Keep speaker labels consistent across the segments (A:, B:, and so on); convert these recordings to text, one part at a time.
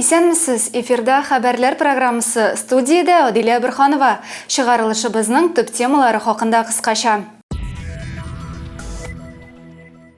A: Исәнмесез, эфирда хәбәрләр программасы студиядә Адилә Бирханова. Чыгарылышыбызның төп темалары хакында кыскача.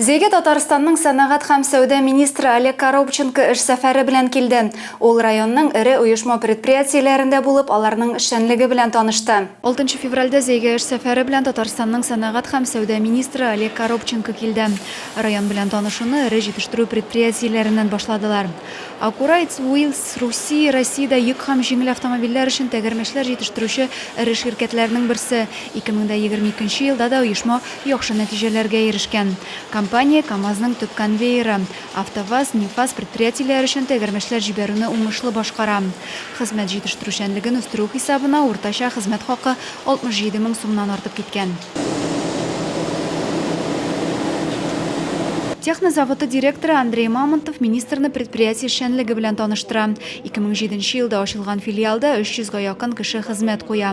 A: Зәйгә Татарстанның сәнәгать һәм сәүдә министры Олег Коробченко эш сәфәре белән килде. Ул районның эре оешма-предприятиеләрендә булып, аларның эшчәнлеге белән танышты. Алтынчы февральдә Зәйгә эш сәфәре белән Татарстанның сәнәгать һәм сәүдә министры Олег Коробченко килде. Район белән танышуны эре җитештерү предприятиеләреннән башладылар. Акурайц Уилс, Руси, Россиядә йөк һәм җиңел автомобильләр өчен тәгәрмәчләр җитештерүче эре ширкәтләрнең берсе, 2022 нче елда да оешма яхшы нәтиҗәләргә ирешкән. Компания КАМАЗның төп конвейеры, АвтоВАЗ, НИФАЗ предприятиеләре өчен тәгәрмәчләр җибәрүне уңышлы башкара. Хезмәт җитештерүчәнлеген үстерү хисабына уртача хезмәт хакы 67 мең сумнан артып киткән. Техно заводы директоры Андрей Мамонтов министрны предприятие эшчәнлеге белән таныштыра. 2007 елда ачылган филиалда 300 га якын кеше хезмәт куя.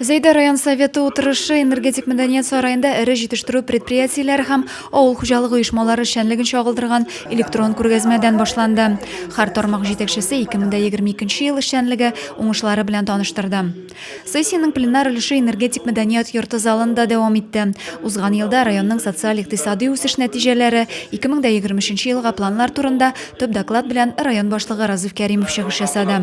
B: Зәйдә район советы утырышы энергетик мәдәният сараенда эре җитештерү предприятиеләре һәм авыл хуҗалыгы оешмалары эшчәнлеген чагылдырган электрон күргәзмәдән башланды. Һәр тармак җитәкчесе 2022 ел эшчәнлеге уңышлары белән таныштырды. Сессиянең пленар өлеше энергетик мәдәният йорты залында дәвам итте. Узган елда районның социаль-икътисадый үсеш нәтиҗәләре, 2023 елга планнар турында төп доклад белән район башлыгы Разыйф Кәримов чыгыш ясады.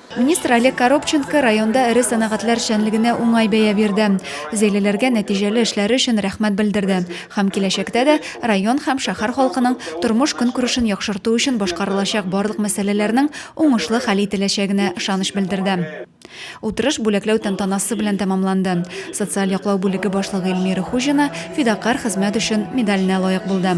C: Министр Олег
A: Коробченко районда эре сәнәгатьләр эшчәнлегенә уңай бәя бирде, Зәйлеләргә нәтиҗәле эшләре өчен рәхмәт белдерде һәм киләчәктә дә район һәм шәһәр халкының тормыш-көнкүрешен яхшырту өчен башкарылачак барлык мәсьәләләрнең уңышлы хәл ителәчәгенә ышаныч белдерде. Утырыш бүләкләү тантанасы белән тәмамланды. Социаль яклау бүлеге башлыгы Эльмира Хуҗина Фидакарь хезмәт өчен медаленә лаек булды.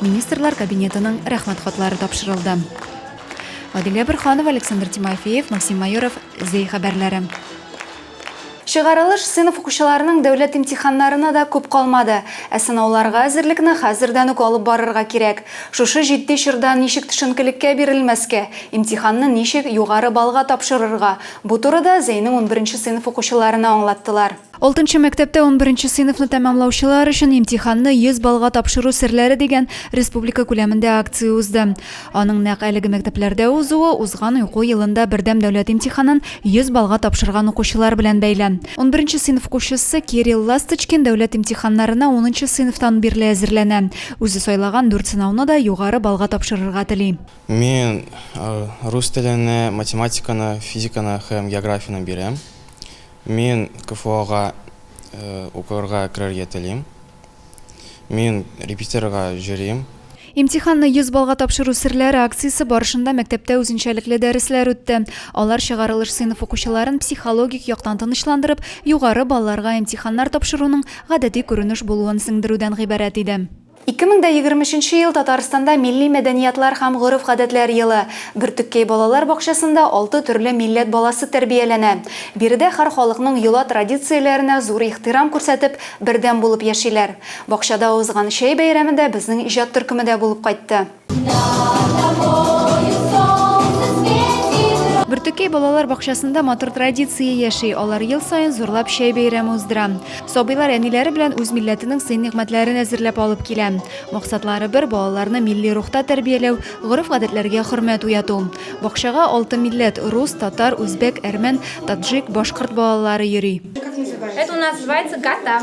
A: Министрлар Кабинетының рәхмәт хатлары тапшырылды. Адилия Борханова, Александр Тимофеев, Максим Майоров, Зәй хәбәрләре. Чыгарылыш сыйныф укучыларының дәүләт имтиханнарына да күп калмады. Ә сынауларга әзерлекне хәзердән үк алып барырга кирәк. Шушы җитди чорда ничек төшенкелеккә бирелмәскә, имтиханны ничек югары баллга тапшырырга, бу турыда Зәйнең унберенче сыйныф укучыларына аңлаттылар. Алтынчы мәктәптә унберенче сыйныфны тәмамлаучылар өчен имтиханны 100 баллга тапшыру серләре дигән республика күләмендә акция узды. Аның нәкъ әлеге мәктәпләрдә узуы узган уку елында бердәм дәүләт имтиханын 100 баллга тапшырган укучылар белән бәйле. Унберенче сыйныф укучысы Кирилл Ласточкин дәүләт имтиханнарына унынчы сыйныфтан бирле әзерләнә. Үзе сайлаган дүрт сынауны да югары баллга тапшырырга тели. Мин
D: рус телене, математиканы, физиканы һәм географияне бирәм. Мин КФОга укырга керергә телим. Мин репетиторга йөрим. Имтиханны
A: 100 баллга тапшыру серләре акциясе барышында мәктәптә үзенчәлекле дәресләр үтте. Алар чыгарылыш сыйныф укучыларын психологик яктан тынычландырып, югары балларга имтиханнар тапшыруның гадәти күренеш булуын сеңдерүдән гыйбарәт иде. Ике мең дә егерме өченче ел Татарстанда Милли мәдәниятлар һәм гореф-гадәтләр елы. Бөртеккәй балалар бакчасында алты төрле милләт баласы тәрбияләнә. Биредә һәр халыкның йола традицияләренә зур ихтирам күрсәтеп, бердәм булып яшиләр. Бакчада узган чәй бәйрәмендә безнең иҗат төркеме дә булып кайтты. Бөртеккәй балалар бакчасында матур традиция яши. Алар ел саен зурлап чәй бәйрәме уздыра. Сабыйлар әниләре белән үз милләтенең сый-нигъмәтләрен әзерләп алып килә. Максатлары бер, балаларны милли рухта тәрбияләү, гореф-гадәтләргә хөрмәт уяту. Бакчага алты милләт, рус, татар, үзбәк, әрмән, таджик, башкорт балалары йөри. Это у нас
E: называется гата.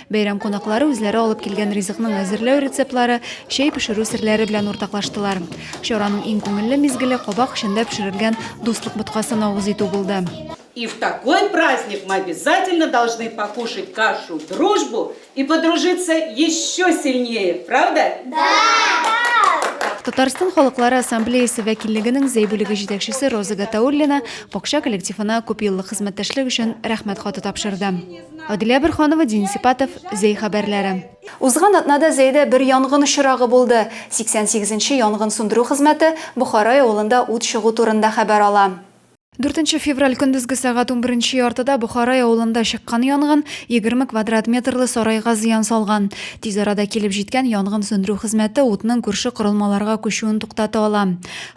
A: Бәйрәм кунаклары үзләре алып килгән ризыкның әзерләү рецептлары, чәй пешерү серләре белән уртаклаштылар. Чараның иң күңелле мизгеле кабак эчендә пешерелгән дуслык боткасын авыз итү булды. И в такой
F: праздник мы обязательно должны покушать кашу дружбу и подружиться еще сильнее, правда? Да!
A: Татарстан халыклары ассамблеясе вәкиллегенең Зәй бүлеге җитәкчесе Роза Гатауллина бакча коллективына күпьеллык хезмәттәшлек өчен Рәхмәт хаты тапшырды. Аделя Бөрханова, Дин Сипатов, Зәй хәбәрләре. Узган атнада Зәйдә бер янгын очрагы булды. 88 нче янгын сундыру хезмәте Бохарай авылында ут чыгу турында хәбәр ала. Дүртенче февраль көндезге сәгать унберенче яртыда Бохарай авылында чыккан янгын егерме квадрат метрлы сарайга зыян салган. Тиз арада килеп җиткән янгын сүндерү хезмәте утның күрше корылмаларга күчүен туктата ала.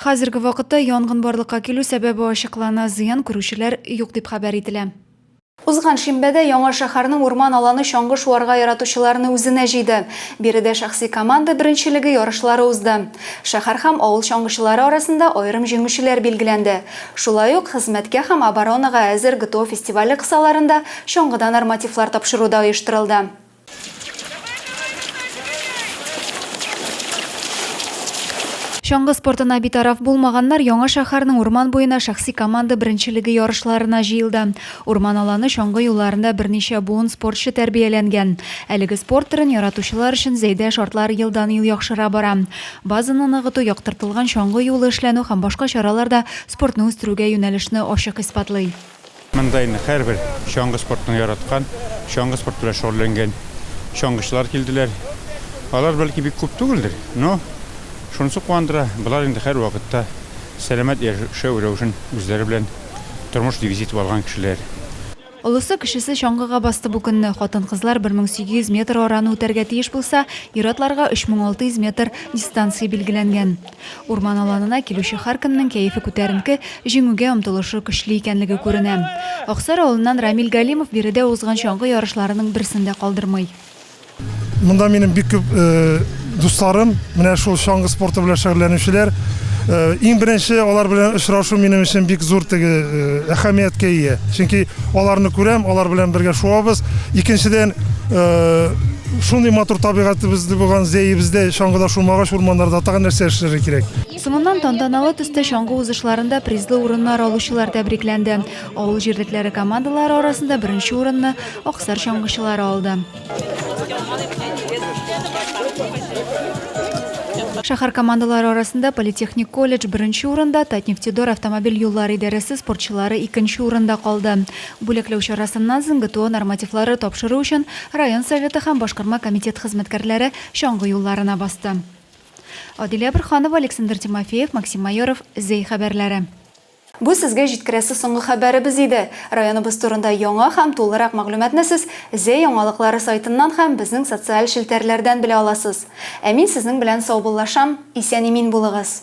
A: Хәзерге вакытта янгын барлыкка килү сәбәбе ачыклана, зыян күрүчеләр юк дип хәбәр ителә. Узган шимбәдә Яңа шәһәрнең урман аланы чаңгы шуарга яратучыларны үзенә җыйды. Биредә шәхси команда беренчелеге ярышлары узды. Шәһәр һәм авыл чаңгычылары арасында аерым җиңүчеләр билгеләнде. Шулай ук Хезмәткә һәм оборонага әзер ГТО фестивале кысаларында чаңгыда нормативлар тапшыру да оештырылды. Чаңгы спортына битараф булмаганнар Яңа шәһәрнең урман буена шәхси команда беренчелеге ярышларына җыелды. Урман аланы чаңгы юлларында берничә буын спортчы тәрбияләнгән. Әлеге спорт төрен яратучылар өчен Зәйдә шартлар елдан-ел яхшыра бара. Базаны ныгыту, яктыртылган чаңгы юлы эшләнү һәм башка чаралар да спортны үстерүгә юнәлешне ачык исбатлый. Монда инде
G: һәрбер чаңгы спортын яраткан, чаңгы спорты белән шөгыльләнгән чаңгычылар килделәр. Алар, бәлки, бик күп түгелдер, но шунысы куандыра, болар инде һәрвакытта сәламәт яшәү рәвешен үзләре белән тормыш девизы итеп алган кешеләр. Олысы-кечесе
A: чаңгыга басты бу көнне. Хатын-кызлар 1800 метр араны үтәргә тиеш булса, ир-атларга 3600 метр дистанция билгеләнгән. Урман аланына килүче һәркемнең кәефе күтәренке, җиңүгә омтылышы көчле икәнлеге күренә. Аксар авылыннан Рамил Галимов биредә узган чаңгы ярышларының берсен дә калдырмый.
H: Монда минем бик күп дусларым, менә шул чаңгы спорты белән шөгыльләнүчеләр. Иң беренче алар белән очрашу минем өчен бик зур теге әһәмияткә ия. Чөнки аларны күрәм, алар белән бергә шуабыз. Икенчедән, Шундый матур табигатебезне булган зәебездә чаңгыда шумагач урманнарда тагын нәрсә эшләргә кирәк? Соңыннан тантаналы
A: төстә чаңгы узышларында призлы урыннар алучылар тәбрикләнде. Авыл җирлекләре командалары арасында беренче урынны Аксар чаңгычылары алды. Шәһәр командалары арасында политехник колледж беренче урында, Татнефтедор автомобиль юллары идарәсе спортчылары икенче урында калды. Бүләкләү чарасыннан соң ГТО нормативлары тапшыру өчен район Советы һәм башкарма комитет хезмәткәрләре чаңгы юлларына басты. Адилә Борһанова, Александр Тимофеев, Максим Майоров, Зәй хәбәрләре. Бу сезгә җиткерәсе соңгы хәбәребез иде. Районыбыз турында яңа һәм тулырак мәгълүматны сез Зәй яңалыклары сайтыннан һәм безнең социаль челтәрләрдән белә аласыз. Ә мин сезнең белән саубуллашам, исән-имин булыгыз!